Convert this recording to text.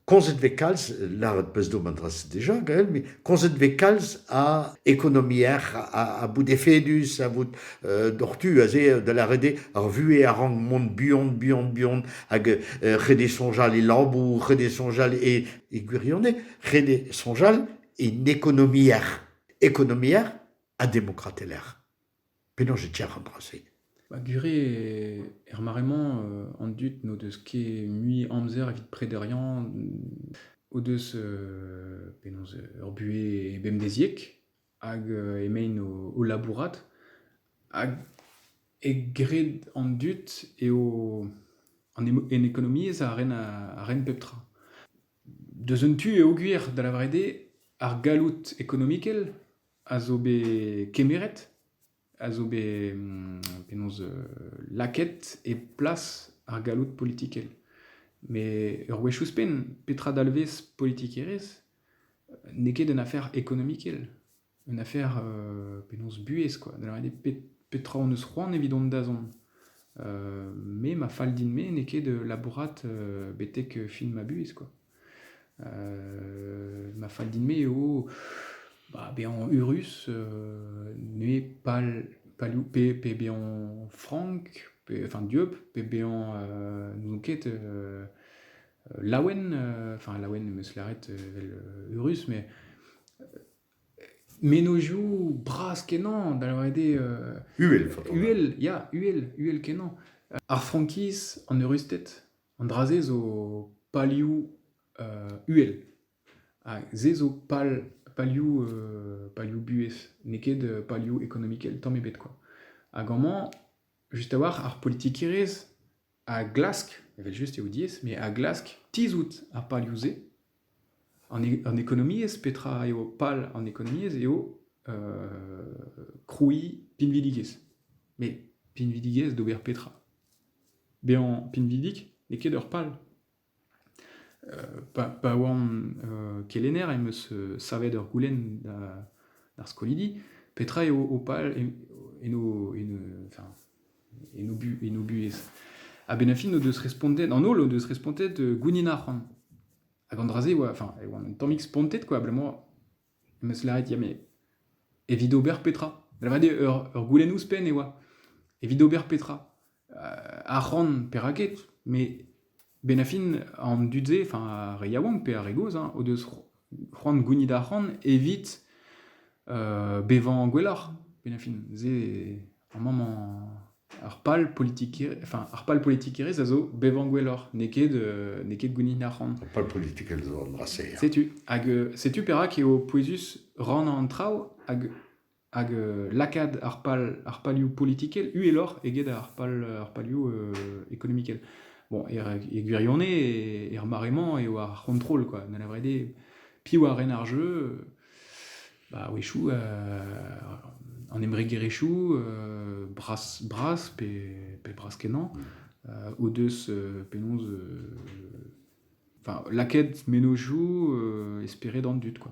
Komzet vez kalz, lâret 'peus deomp an dra-se deja gael, met komzet vez kalz a ekonomiezh, a bout efedus, a vout doc'htu aze da lâret eo ar vuhez a rank mont buan, buan, buan hag ret eo soñjal e labour, ret eo soñjal e gwirionez, ret eo soñjal en ekonomiezh, ekonomiezh ha demokratelezh. Penaos e tiac'h an dra-se? Ba gure er mare-mañ an dud n'o deus ket mui amzer evit prederiañ o deus penaos ur buhez bemdeziek hag emaint o labourat hag egred an dud eo an ekonomiezh a ren pep tra. Deus un tu peogwir da lavaret eo ar galloud ekonomikel a zo bet kemeret, a zo bet penaos lakaet e plas ar galloud politikel. Met ur wech ouzhpenn, petra dalvez politikerezh? N'eo ket un afer ekonomikel, un afer penaos buhez quoi. Da lavaret eo petra hon eus c'hoant evit hon dazont. me ma fal din-me n'eo ket labourat betek fin ma buhez quoi. Ma fall din-me eo bah, bezañ eürus, neuze pal palioù pe pe bezañ frank, pe enfin dieub, pe bezañ n'ouzon ket laouen, enfin laouen em eus lâret evel eürus, mais mennozhioù bras-kenañ, da lâret eo. Uhel, faotr. Uhel, ya, uhel, uhel-kenañ. Ar frankiz, an eurusted. An dra-se zo palioù uhel ha se zo pal palioù palioù buhez n'eo ket palioù ekonomikel tamm ebet kwa. Hag amañ just a-walc'h ar politikerezh a glask, evel-just eo diaes, met a glask tizhout ar palioù-se An ekonomiezh, petra eo pal an ekonomiezh, eo krouiñ pinvidigezh. Met pinvidigezh d'ober petra? Bezañ pinvidik n'eo ket ur pal. Pa pa oan kelenner em eus savet ur goulenn d'ar skolidi petra eo ho pal en ho en ho enfin en o buhez. Ha benn fin o deus respontet, an holl o deus respontet euh, gounid ar c'hoant. Hag an dra-se, oa, enfin, e oan un tammig spontet, quoi, abalamour, em eus lâret, ya, mais evit ober petra Lavaret eo, ur, ur goulenn ouzhpenn e oa. Evit ober petra euh, Ar c'hoant, perak ket, mais Ben a fin, an dud-se, enfin ar re yaouank pe ar re gozh, hein, o deus c'ho- c'hoant gounit arc'hant evit euh, bevañ gwelloc'h, ben a fin. Se, ar mammañ, ar pal politikerezh, enfin ar pal politikerezh a zo bevañ gwelloc'h, n'eo ket euh, n'eo ket gounit arc'hant. Ar pal politikel zo an dra-se. ya. Setu, hag euh, setu perak eo pouezus rannañ an traoù, hag hag lakaat ar pal, ar palioù politikel uheloc'h eget ar pal, ar palioù ekonomikel. Bon, er, e gwirionez, er mare-mañ eo ar c'hontrol, quoi. Da lavaret eo, piv a ren ar jeu Bah a-wechoù, an embregerezhioù, bras, bras pe, pe bras-kenañ, o deus penaos enfin, lakaet mennozhioù e spered an dud, quoi.